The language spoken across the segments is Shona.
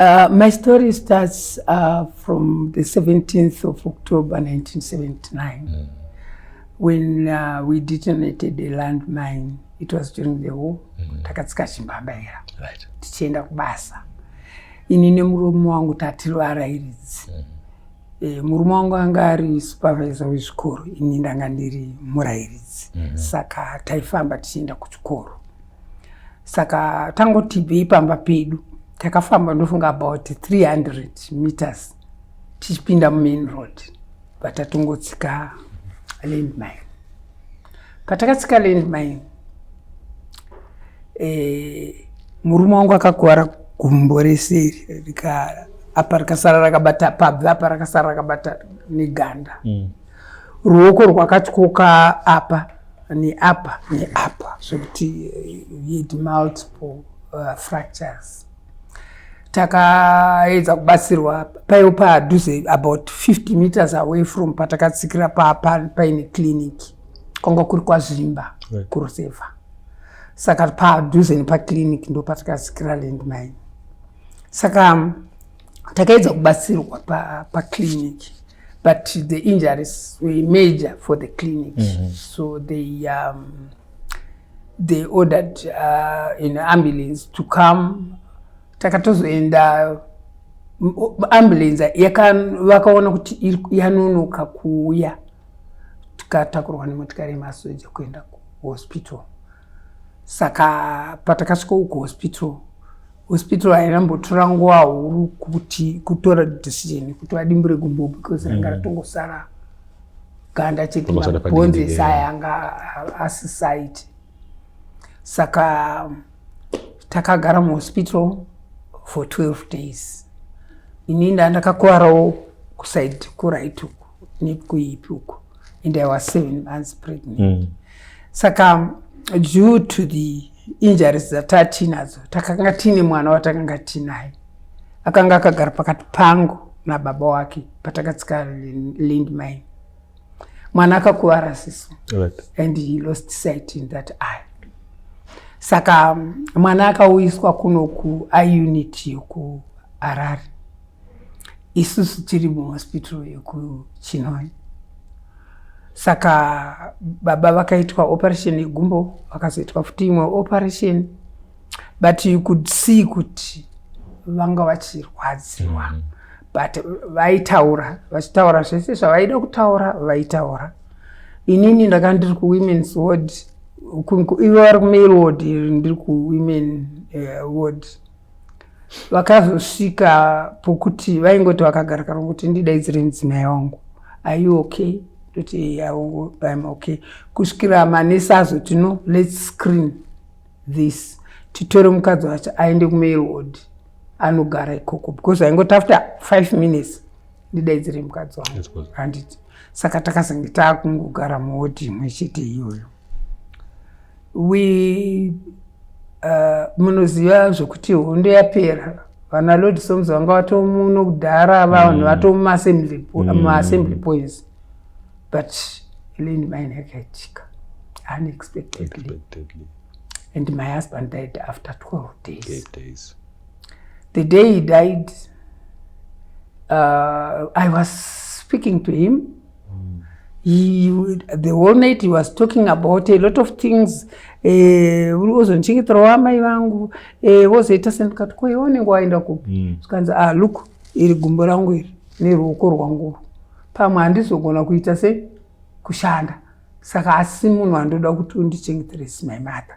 Uh, my story starts uh, from the 17th of October 1979 mm. when uh, we detonated a landmine. It was during the war. Mm. Takatsika chimbambaira right. tichienda kubasa ini nemurume wangu tativarairidzi mm. E, murume wangu anga ari supervisor wezvikoro ini ndanga ndiri murairidzi mm -hmm. saka taifamba tichienda kuchikoro saka tangotibvei pamba pedu takafamba ndofunga about 300 meters tichipinda mumain road vatatongotsika landmine patakatsika landmine eh, murume wangu akakuvara gumbo reseri rikara apa rakasara rakabata pabvi apa rakasara rakabata neganda mm. ruoko rwakatyoka apa neapa neapa zvekuti yet eh, multiple uh, fractures takaedza kubatsirwa paiwo padhuze about 50 meters away from patakatsikira papa paine clinic kwanga kuri kwazvimba right. kuruseva saka padhuze nepaclinic ndo patakatsikira landmine saka takaedza kubatsirwa paclinic pa but the injuries were major for the clinic mm -hmm. so they um, they ordered uh, an ambulance to come takatozoenda ambulance vakaona kuti yanonoka kuuya tikatakurwa nemotikari yemasoja kuenda kuhospital saka patakasvika uku hospital hospital hainambotora nguva huru kuti kutora decision yekuti vadimbure gumbo because ranga mm. ratongosara ganda chete mabhonzi ese aya anga asisaiti saka takagara muhospital for 12 days ini nda ndakakuvarawo kuside kuright uku nekuipi uku and i was seven months pregnant mm. saka due to the injuries dzatatiinadzo takanga tiine mwana watakanga tiinaye akanga akagara pakati pangu nababa wake patakatsika lindmine mwana akakuvara siso right. and he lost sight in that eye saka um, mwana akauyiswa kuno kuiunit yokuharare isusu tiri muhospital yokuchinoi saka baba vakaitwa operation yegumbo vakazoitwa futi imwe operation but you could see kuti vanga vachirwadziwa mm. but vaitaura vachitaura zvese zvavaida kutaura vaitaura inini ndaka ndiri kuwomens ward ivo vari kumale ward ndiri kuwomen uh, ward vakazosvika pokuti vaingoti vakagara kana kuti ndidaidzire mudzimai wangu are you okay toti im okay kusvikira manesi azoti no let's screen this titore mukadzi wacho aende kumail ward anogara ikoko because aingoti after five minutes ndidaidzire mukadzi wangu handiti saka takazenge taakungogara muwodi imwe chete iyoyo we uh, munoziva zvokuti hondo yapera vana lord soms vanga vatomuno kudhara vanhu mm. vatomumassembly maassembly mm. points but leni mine yakaitika unexpectedly and my husband died after 12 days, Eight days. the day he died uh, i was speaking to him mm. you, the whole night he was talking about a lot of things eh, ozondichengetera uh, wamai vangu eh, wozoita uh, sendikati ko iwe unenge waenda kupi mm. zvikanzi mm. ah look iri gumbo rangu iri neruoko rwanguru pamwe handizogona kuita se kushanda saka asi munhu andoda kuti undichengeteresi my mother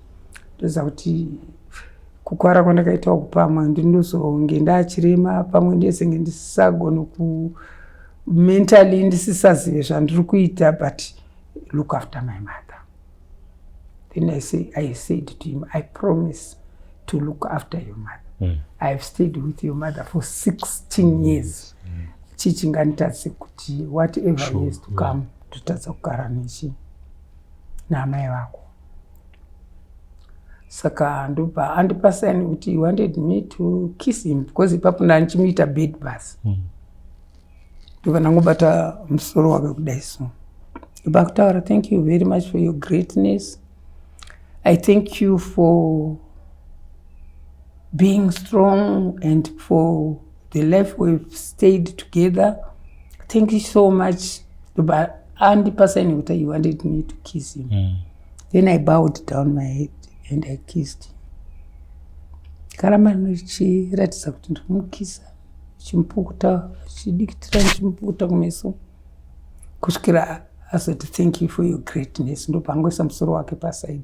ndoziva kuti kukwara kwandakaitawo kupamwe ndinozonge ndaachirema pamwe ndezenge ndisisagone ku mentally ndisisazive zvandiri kuita but look after my mother then i say i said to him i promise to look after your mother mm. i have stayed with your mother for 16 years mm. chichinganitadze kuti whatever sure. is to come yeah. totadza kugara nechi naamai vako saka ndopa andipa sign kuti he wanted me to kiss him because ipapo ndandichimuita bed bus hmm. ndobva ndangobata musoro wake kudai so ndobva kutaura thank you very much for your greatness i thank you for being strong and for the life we've stayed together thank you so much but andipasa ini kuti he wanted me to kiss him mm. then i bowed down my head and i kissed him karamba ndichiratidza kuti ndikumukisa chimupukuta chidikitira ndichimupukuta kumeso kusvikira azoti thank you for your greatness ndopangoisa musoro wake paside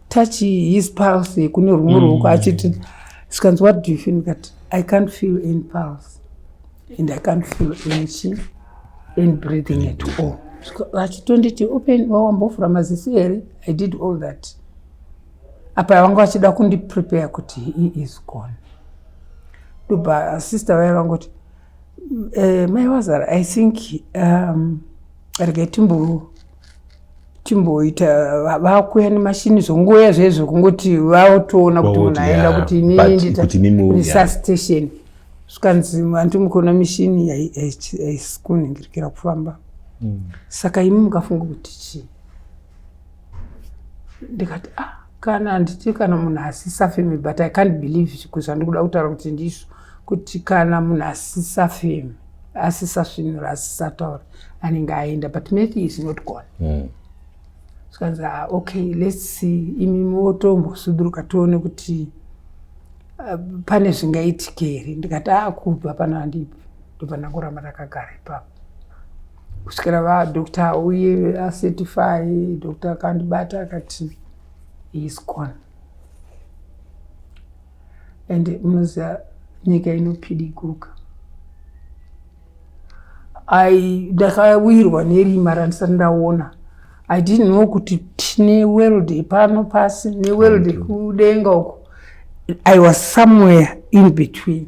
touch his pulse kune rumwe mm. ruoko achiti zvikanzi what do you feel that i can't feel any pulse and i can't feel any chi any breathing at all vachitonditi open wawambovhura maziso here i did all that apa vanga vachida kundiprepare kuti he is gone ndobva sister vaye vangoti uh, eh, mai wazara i think um, regai timbo chimboita vakuya nemashini zvongoya zvezvo kungoti vaotoona kuti munhu aenda kuti iniiisatation zvikanzi vantu mukuona mishini haisi kunhingirikira kufamba hmm. saka imi mukafunga kuti chii ndikati ah kana handiti kana munhu asisafemi but i can't believe zvandikuda kutaura kuti ndizvo kuti kana munhu asisafemi asisasvinura asisataura anenge aenda but maybe is not gone mm. zvikanzi ah, okay let's see imi motombosuduruka tione kuti uh, pane zvingaitike here ndikati akubva ah, pano handipi ndopana kuramba ndakagara ipapo kusvikira vadoctor auye acertify doctor akandibata akati is gone and munoziva nyika inopidiguka i ndakawirwa nerima randisati ndaona i didn't know kuti tine world pano pasi neworld kudenga uko i was somewhere in between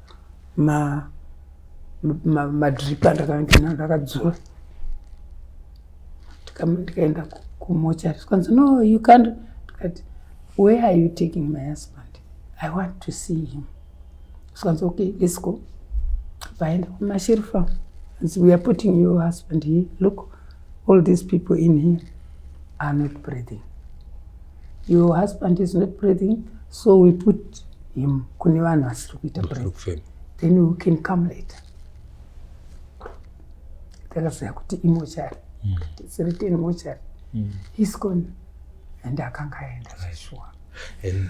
madrip andakaendana ndakadzura ndikaenda kumochari zvikanzi no you can't ndikati where are you taking my husband i want to see him zvikanzi okay let's go vaenda kumasherifa we are putting your husband here look All these people in here are not breathing. Your husband is not breathing, so we put him kune vanhu vasiri kuita breathing. Then we can come later. Takaziva kuti imochari. Mm. It's written mochari. Mm. He's gone. And akanga aenda zveshuwa. And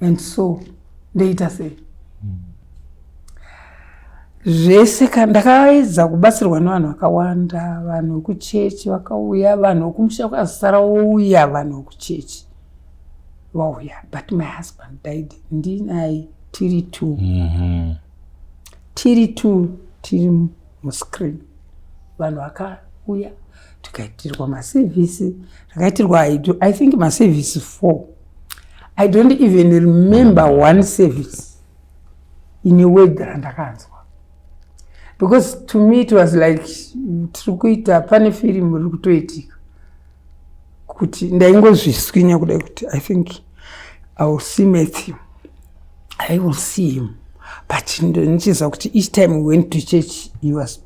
and so ndoita sei zvese ka ndakaedza kubatsirwa nevanhu vakawanda vanhu vekuchechi vakauya vanhu vekumusha kwazisara wouya vanhu vekuchechi vauya but my husband died ndinaye tiri two mm -hmm. tiri two tiri muscreen vanhu vakauya tikaitirwa masevhisi takaitirwa i think masevhisi four i don't even remember one service ine word randakanzwa because to me it was like tiri kuita pane firimu iri kutoitika kuti ndaingozviswinya kudai kuti i think i will see matthew i will see him but ndichiziva kuti each time we went to church he was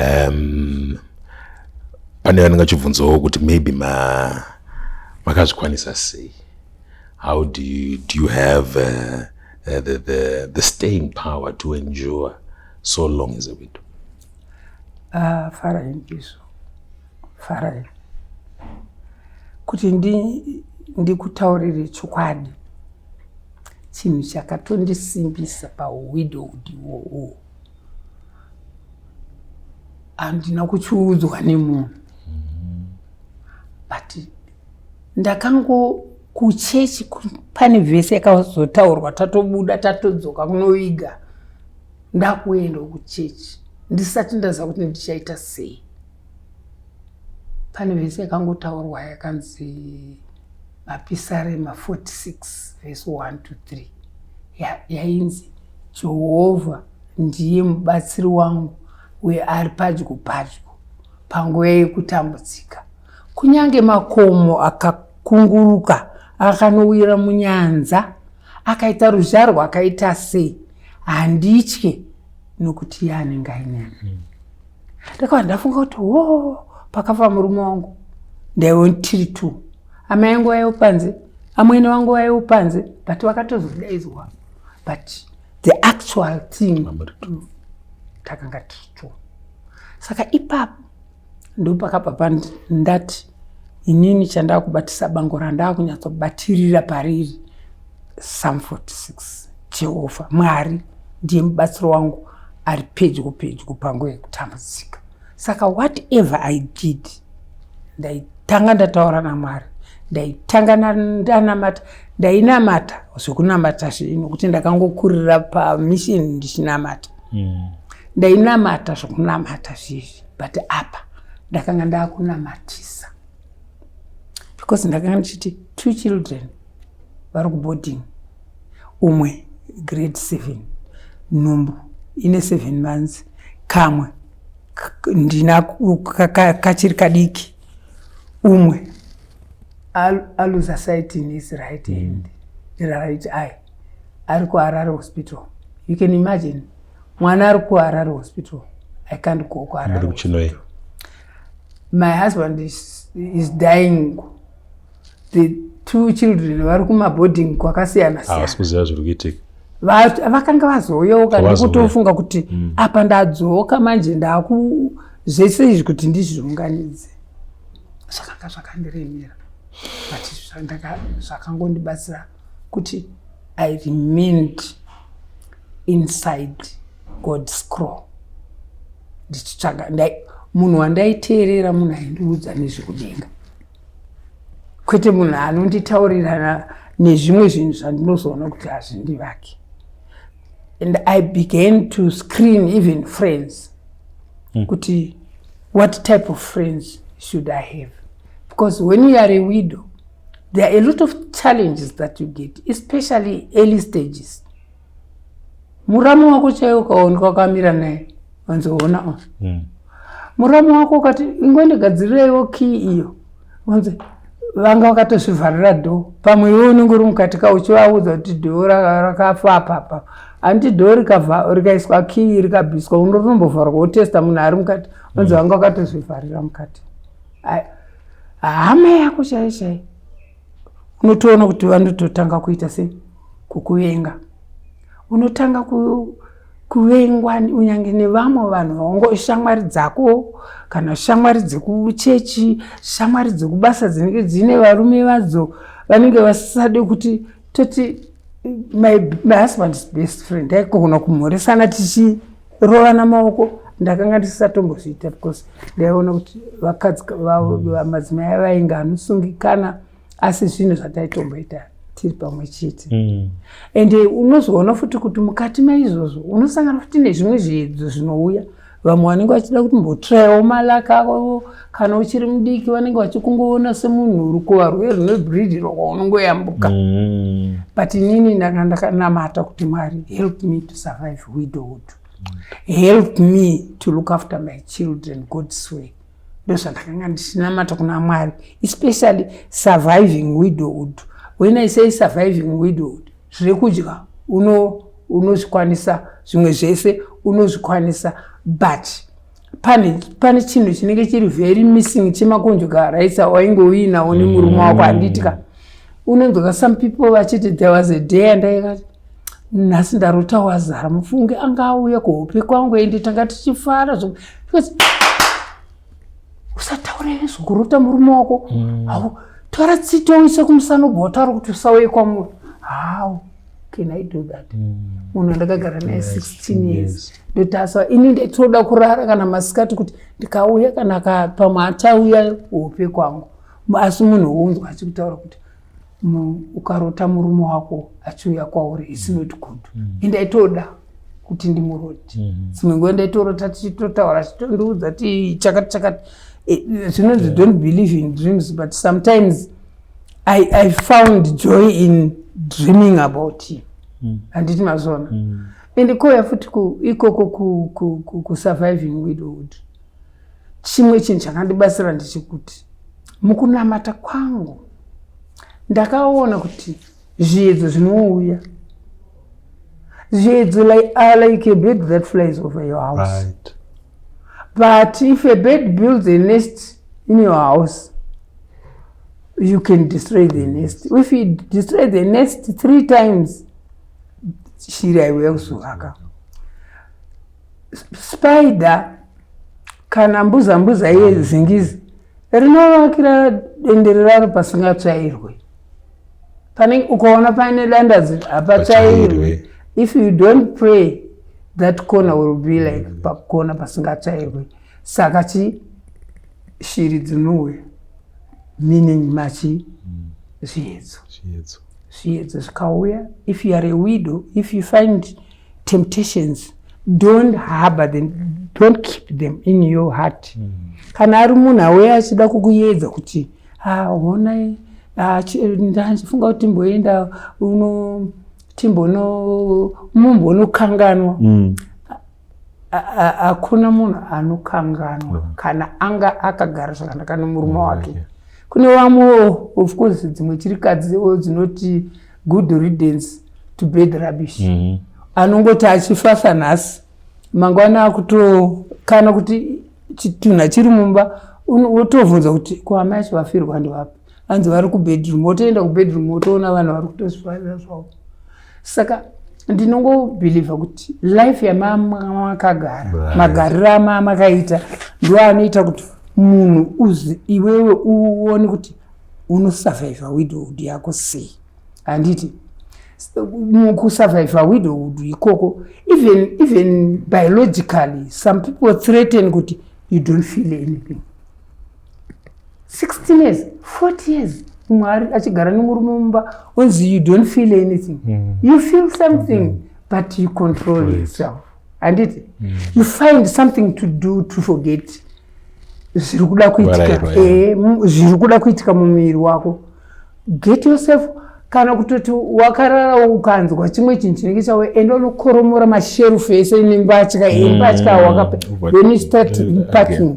um, pane vanenge vachibvunzawo kuti maybe ma makazvikwanisa sei how do you, do you have uh, uh, the, the, the staying power to endure so long as a widow uh, farain isu farain kuti ndikutaurire ndi chokwadi chinhu chakatondisimbisa pawidow udiwowo handina kuchuudzwa nemunhu but ndakango kuchechi pane vhese yakazotaurwa tatobuda tatodzoka kunoviga ndakuenda kuchechi ndisati ndaziva kuti ndichaita sei pane vhese yakangotaurwa yakanzi Mapisarema 46 vhesi 1 to 3 yainzi ya Jehovha ndiye mubatsiri wangu uye ari padyo padyo panguva yekutambudzika. Kunyange makomo akakunguruka akanowira munyanza, akaita ruzha rwakaita sei, handitye nokuti iye anenge aineni. Hmm. ndakava ndafunga kuti wo pakafa murume wangu ndaive tiri two amai yangu vaive panze amwene wangu vaive panze but vakatozodaidzwa but the actual thing takanga tiri two saka ipapo ndopakabva pandati inini chandakubatisa bango randakunyatsobatirira pariri psalm 46 jehovha mwari ndiye mubatsiro wangu ari pedyo pedyo pangu yekutambudzika saka whatever i did ndaitanga ndataura namwari ndaitanga ndanamata ndainamata zvekunamata zvino kuti ndakangokurira pamishini ndichinamata mm. ndainamata zvekunamata zvizvi but apa ndakanga ndakunamatisa because ndakanga ndichiti two children vari kuboarding umwe grade seven nhumbu ine seven months kamwe ndina kachiri kadiki umwe aluza site in his right hand mm. right eye ari kuharare hospital you can imagine mwana ari kuharare hospital i can't go kuharare kuchinoi my husband is, is dying the two children vari kumaboarding kwakasiyana siyana havasi kuziva zviri kuitika vakanga vazoyeuka ndikutofunga kuti mm. apa ndadzoka manje ndaku zvese izvi kuti ndizviunganidze zvakanga zvakandiremera but zvakangondibatsira kuti I remained inside God scroll ndichitsvaga ndai munhu wandaiteerera munhu aindiudza nezvekudenga kwete munhu anonditaurirana nezvimwe zvinhu zvandinozoona kuti hazvindivake and i began to screen even friends mm. kuti what type of friends should i have because when you are a widow There are a lot of challenges that you get, especially early stages. Muramu wako chaye ukaoneka wakamira naye, wanzi ona ona. Mm. Muramu wako ukati ingwende gadzireiwo key iyo. Wanzi vanga vakatozvivharira door. Pamwe iwe unenge uri mukati ka uchivaudza kuti door rakafa apa apa. Anti door rikava rikaiswa key rikabiswa unotombovharwa wotesta munhu ari mukati. Wanzi mm. vanga vakatozvivharira mukati. hama yako chaiyo chaiyo unotoona kuti vanototanga kuita se kukuvenga unotanga ku, kuvengwa unyange nevamwe vanhu vaongo shamwari dzako kana shamwari dzekuchechi shamwari dzekubasa dzinenge dziine varume vadzo vanenge vasisade kuti toti my, my husband is best friend aikogona kumhoresana tichii kurovana maoko ndakanga ndisisatombozviita because ndaiona kuti vakadzi madzimai avainge anosungikana asi zvinhu zvataitomboita tiri pamwe chete mm. and eh, unozoona futi kuti mukati maizvozvo unosangana futi nezvimwe zviedzo zvinouya vamwe vanenge vachida kuti mbotraiwo malaka avo kana uchiri mudiki vanenge vachikungoona semunhu uri kuva rwe rwebridiro kwaunongoyambuka mm. but inini ndanga ndakanamata kuti mwari help me to survive widowhood help me to look after my children god's way ndozvandakanga ndichinamata kuna mwari especially surviving widowhood when i say surviving widowhood zviri kudya unozvikwanisa zvimwe zvese unozvikwanisa but pane pane chinhu chinenge chiri very missing chemakonjuka rights awainge uinawo nemurume wako mm. handiitika unonzwaka some people vachiti there was a day andaikati nhasi ndarota wazara mufunge anga auya kuhope kwangu ende tanga tichifara zvo because usataure zvokurota murume wako mm. hau tora tsito uise kumusana ubva wataura kuti usauye kwamuri hau can i do that mm. munhu andakagara naye 16 years ndotaswa ini nditoda kurara kana masikati kuti ndikauya kana pamwe achauya hope kwangu asi munhu unzwa achikutaura kuti ukarota murume wako achiuya kwauri is mm. not good mm. indaitoda kuti ndimuroti mm-hmm. dzimwe nguva ndaitorota tichitotaura chitondiudza ti chakati chakati eh, zvinonzi don't believe in dreams but sometimes mm -hmm. I, I found joy in dreaming about you mm. handiti mm. mazona mm. and kouya futi ikoko kusurviving ku, ku, ku widowhood chimwe chinhu chakandibatsira ndechekuti mukunamata kwangu ndakaona kuti zviedzo zvinouya zviedzo like, uh, like a bed that flies over your house right. but if a bed builds a nest in your house you can destroy the nest if you destroy the nest three times shiri aiuya kuzovaka spider kana mbuza mbuza iye zingizi rinovakira dendere raro pasingatsvairwe pane ukaona paine dandazi hapatsvairwe if you don't pray that corner will be like pakona pasingatsvairwe saka chii shiri dzinouya meaning machi mm. zviedzo zviedzo zviedzo zvikauya if you are a widow if you find temptations don't harbor them don't keep them in your heart mm. kana ari munhu auya achida kukuyedza kuti honai ndandifunga kuti timboenda uno timbono mumbonokanganwa mm. hakuna munhu anokanganwa mm. kana anga akagara zvakanaka nomurume mm, wake kune vamwewo of course dzimwe chirikadzi dzinoti good ridence to bed rubbish mm-hmm. anongoti achifasa nhasi mangwana akutokana kuti chitunha chiri mumba wotobvunza kuti kuamai acho vafirwa ndivapi hanzi vari kubedroom wotoenda kubedroom wotoona vanhu vari kutozvifarira zvavo saka ndinongobhilivha kuti life yamamakagara magariro amamakaita ndo anoita kuti munhu uzi iwewe uone kuti unosurvivha widowhood yako sei handiti kusurvivha widowhood ikoko even, even biologically some people threaten kuti you don't feel anything 16 years 40 years mwari achigara nemurume mumba onzi you don't feel anything mm. you feel something mm -hmm. but you control right. yourself handiti mm. you find something to do to forget zviri kuda kuitika eh, zviri kuda kuitika mumuviri wako get yourself kana kutoti wakarara ukanzwa chimwe chinhu chinenge chawe ende unokoromora masherufu ese nembatya embatya mm. wakapathinpacking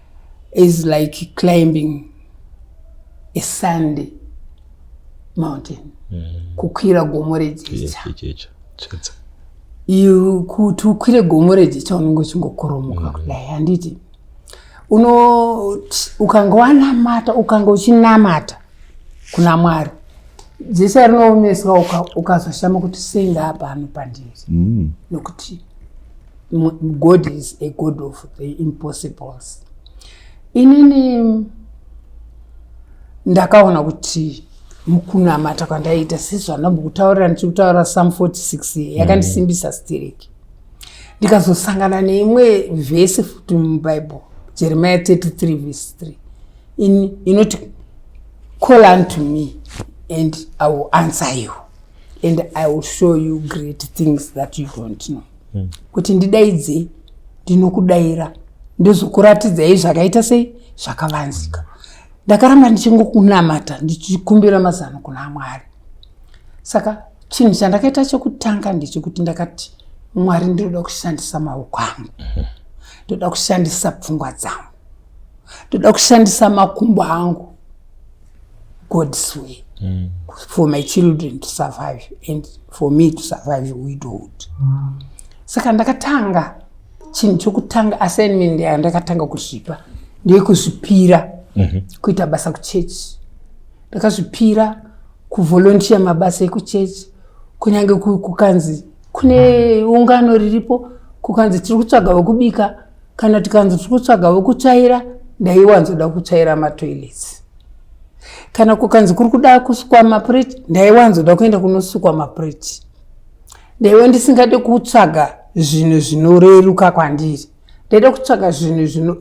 is like climbing a sandy mountain mm. kukwira gomo rejecha kuti ukwire gomo rejecha unenge uchingokoromoka mm. kudai handiti uno ukanga wanamata ukanga uchinamata kuna mwari jecha rinoomeswa ukazoshama kuti sei ngaapano pandiri mm. nokuti god is a god of the impossibles inini ndakaona kuti mukunamata kwandaiita sezvanambo kutaurira ndichiri kutaura sam 46 yakandisimbisa mm. stiriki ndikazosangana neimwe vhesi futi mubible jeremiya 33 vhesi 3 in, inoti call unto me and i will answer you and i will show you great things that you don't know hmm. kuti ndidaidzei ndinokudaira ndozokuratidzai zvakaita sei zvakavanzika ndakaramba ndichingokunamata ndichikumbira mazano kuna mwari saka chinhu chandakaita chekutanga ndechekuti ndakati mwari ndinoda kushandisa maoko angu mhm. ndoda kushandisa pfungwa dzangu ndoda kushandisa makumbo angu god's way mm. for my children to survive and for me to survive widowhood mm. saka ndakatanga chinhu chokutanga assignment yayo ndakatanga kuzvipa ndeyekuzvipira mm -hmm. kuita basa kuchechi ndakazvipira kuvolontiya mabasa ekuchechi kunyange kukanzi kune ungano riripo kukanzi tiri kutsvaga vekubika kana tikanzi tiri kutsvaga vokutsvaira ndaiwanzoda kutsvaira matoilets kana kukanzi kuri kuda kusukwa mapreti ndaiwanzoda kuenda kunosukwa mapreti ndaiva ndisingade kutsvaga zvinhu zvinoreruka kwandiri ndaida kutsvaga zvinhu zvino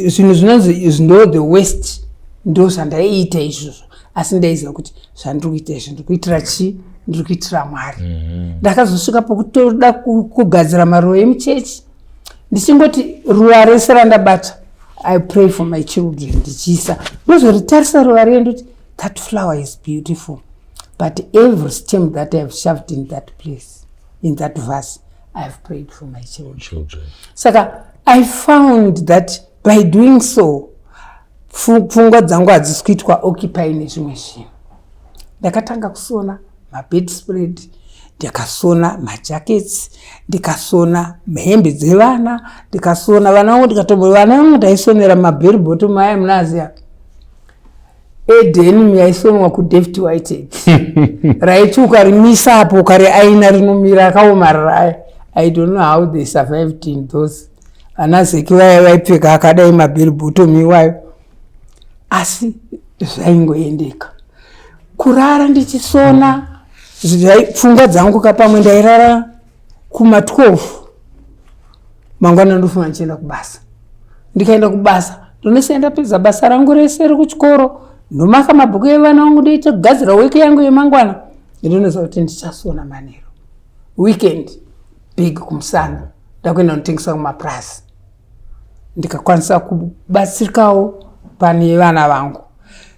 zvinhu zvinonzi ndo the west ndo zvandaiita izvozvo asi ndaiziva kuti zvandiri kuita izvi ndiri kuitira chii ndiri kuitira mwari mhm. ndakazosvika pokutoda kugadzira maruva emuchechi ndichingoti ruva rese randabata i pray for my children ndichiisa ndozoritarisa ruva riye ndoti that flower is beautiful but every stem that ihave shoved in that place in that verse i have prayed for my children saka i found that by doing so pfungwa dzangu hadzisi kuitwa occupy nezvimwe zvinhu ndakatanga kusona mabed spread ndikasona majackets ndikasona hembe dzevana ndikasona vana vangu ndikatombo vana vangu ndaisonera mabheri bottom aya munaziya edenim yaisonwa kudavid white raiti ukarimisa apo ukariaina rinomira akaomarara aya i don't know how they survived in those ana zeki vaya vaipfeka akadai mabhiri bottom iwayo asi zvaingoendeka kurara ndichisona pfungwa dzangu ka pamwe ndairara kuma 12 mangwana ndofunga ndichienda kubasa ndikaenda kubasa ndonese ndapedza basa rangu rese rekuchikoro ndomaka mabhuku evana vangu ndoita kugadzira wiki yangu yemangwana ndinonoziva kuti ndichasona manero weekend big kumusana ndakuenda kunotengesa kumapurazi ndikakwanisa kubatsirikawo pane vana vangu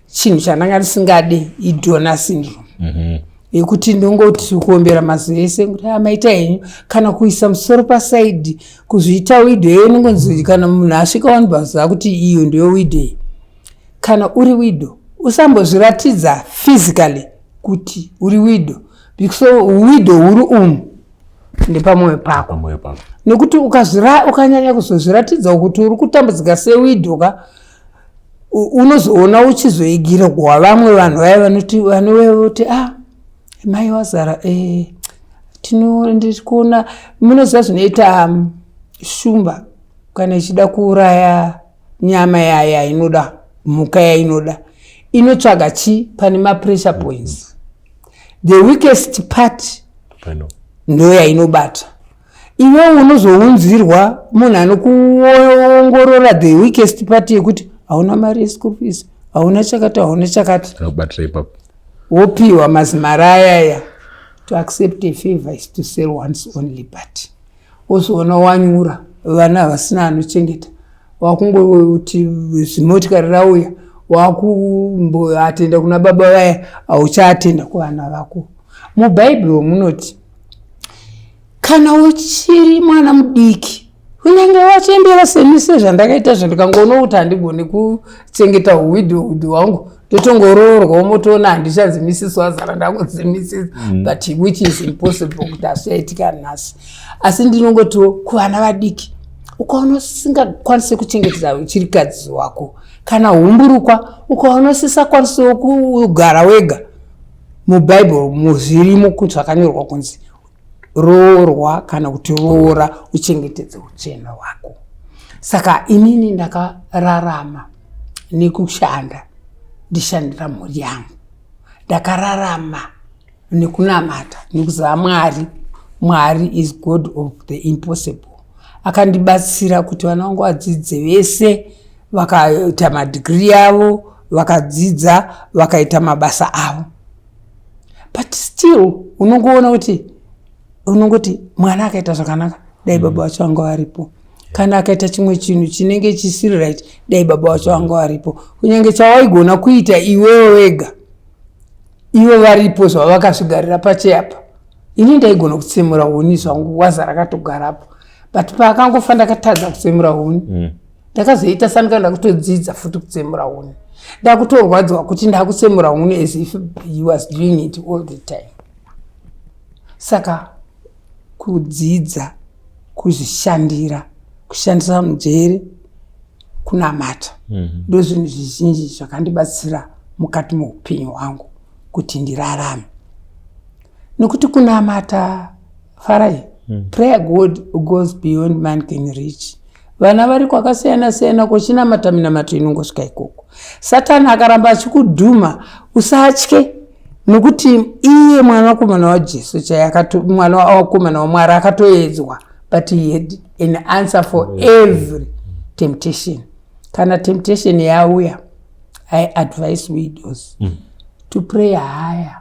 chinhu chandanga ndisingade idona syndrome mm -hmm yekuti ndongoti kuombera mazuva ese kuti amaita ah, henyu kana kuisa musoro pasaidi kuzviita wido iyo inongonzi kana munhu asvika wani pazuva kuti iyo ndiyo wido iyi kana uri wido usambozviratidza physically kuti uri wido because wido huri umu nepamoyo pako nekuti ukanyanya kuzozviratidza kuti uri kutambudzika sewidhoka unozoona uchizoigira kuwa vamwe vanhu vaya vanoti vanoti ah mai wazara eh, ndiri kuona munoziva zvinoita um, shumba kana ichida kuuraya nyama yayo yainoda mhuka yainoda inotsvaga chii pane mapressure points the weakest part ndoyainobata iwe unozounzirwa munhu anokuongorora the weakest part yekuti hauna mari yeschool fees hauna chakati hauna chakati wopiwa mazimari ayaya to accept a favor is to sell one's only party wozoona wanyura vana havasina anochengeta wakungoti zimotikari rauya wakumboatenda kuna baba vaya hauchaatenda kuvana vako mubhaibheri munoti kana uchiri mwana mudiki unenge wachembera semise zvandakaita zvandikangoona kuti handigoni kuchengeta uwidhi hudhi wangu totongoroorwawo motoona handichazimisiswa zara ndakuzimisisa mm. but which is impossible kuti asiaitika nhasi asi ndinongotiwo kuvana vadiki ukaona usingakwanise kuchengetedza uchirikadzi wako kana humburukwa ukaona usisakwanisewo kugara wega mubhaibheri muzvirimo zvakanyorwa kunzi roorwa kana kuti roora uchengetedze uchena hwako saka inini ndakararama nekushanda ndishandira mhuri yangu ndakararama nekunamata nekuziva mwari mwari is god of the impossible akandibatsira kuti vana vangu vadzidze vese vakaita madigiri avo vakadzidza vakaita mabasa avo but still unongoona kuti unongoti mwana akaita zvakanaka dai mm. baba wacho anga varipo kana akaita chimwe chinhu chinenge chisiri right dai baba wacho anga varipo kunyange chawaigona kuita iwewe wega ivo varipo zvavakazvigarira pacheapa ini ndaigona kutsemura huni zvangu waza rakatogarapo but paakangofa ndakatadza kutsemura huni mm. ndakazoita sanika ndakutodzidza futi kutsemura huni ndakutorwadziwa kuti ndakutsemura huni as if he was doing it all the time saka kudzidza kuzvishandira kushandisa mujeri kunamata mhm. ndo zvinhu zvizhinji zvakandibatsira mukati meupenyu hwangu kuti ndirarame nekuti kunamata farai mm. prayer god goes beyond man can reach vana vari kwakasiyana siyana kochinamata minamato inongosvika ikoko satani akaramba achikudhuma usatye nokuti iye mwana wakomana wajesu chaye mwana wakomana wamwari akatoedzwa but he had an answer for every temptation kana temptation yauya i advise widows mm. to pray higher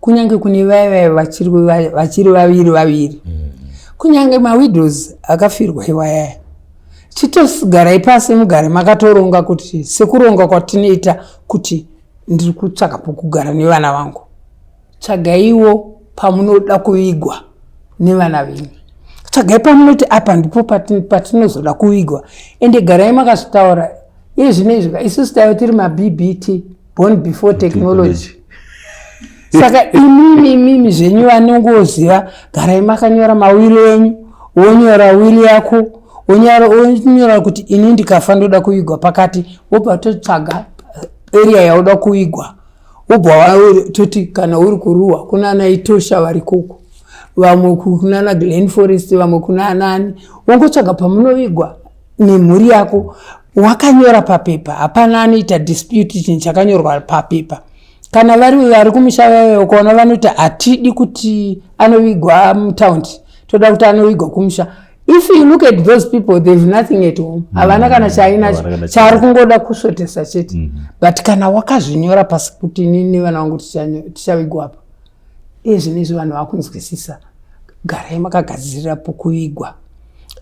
kunyange kune vaive vachiri vaviri vaviri mm. kunyange mawidows akafirwa iwayaya chitogarai pasi mugare makatoronga kuti sekuronga kwatinoita kuti ndiri kutsvaka pokugara nevana vangu tsvagaiwo pamunoda kuvigwa nevana venyu tsvagai pamunoti apa ndipo patinozoda kuvigwa ende garai makazvitaura iye zvino izvika isusu taive tiri mabbti born before technology saka imimi imimi zvenyu vanongoziva garai makanyora mawiri enyu wonyora wiri yako wonyora kuti ini ndikafa ndoda kuvigwa pakati wobva totsvaga area yauda kuvigwa wobva toti kana uri kuruwa kuna anaitosha vari koko vamwe kunana glen forest vamwe kuna anani wongotsvaga pamunovigwa nemhuri yako wakanyora papepa hapana anoita dispute chinhu chakanyorwa papepa kana vari vari kumusha vave ukaona vanoti hatidi kuti anovigwa mutaundi toda kuti anovigwa kumusha if you look at those people they've nothing at home mm. havana kana chainacho chaari kungoda kusvotesa chete mm-hmm. but kana wakazvinyora pasi kuti nini vana vangu tichavigwa apa Ezvinezvi vanhu vakunzwisisa garai makagadzirira pokuvigwa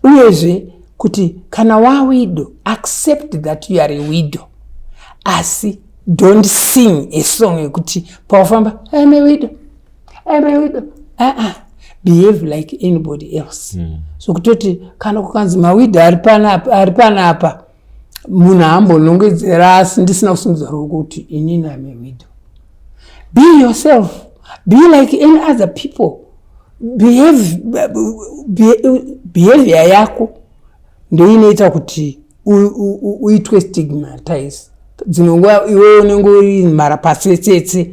uyezve kuti kana wawido accept that you are a wido asi don't sing a song yekuti paufamba am a wido am a wido aa uh -uh. behave like anybody else mm. so kutoti kana kukanzi mawido ari pana apa munhu haambonongedzera asi ndisina kusimudza ruoko kuti inini ame widow be yourself be like any other people behavior yako ndoinoita kuti uitwe stigmatize dzimwe nguva iwe unenge uri mhara pasetsetse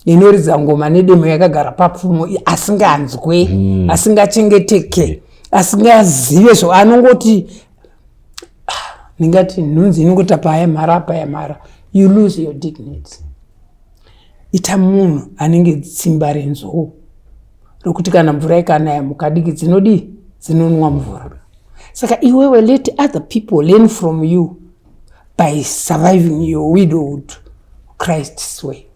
inoridza ngoma nedemo yakagara papfumo asinganzwe mm. asingachengeteke asingazive zvo anongoti ndingati nhunzi inongota paya mhara paya mhara you lose your dignity ita munhu anenge tsimba renzou rokuti kana mvura ikanaya mukadiki dzinodii dzinonwa mvura saka iwewe let other people learn from you by surviving your widowhood christ's way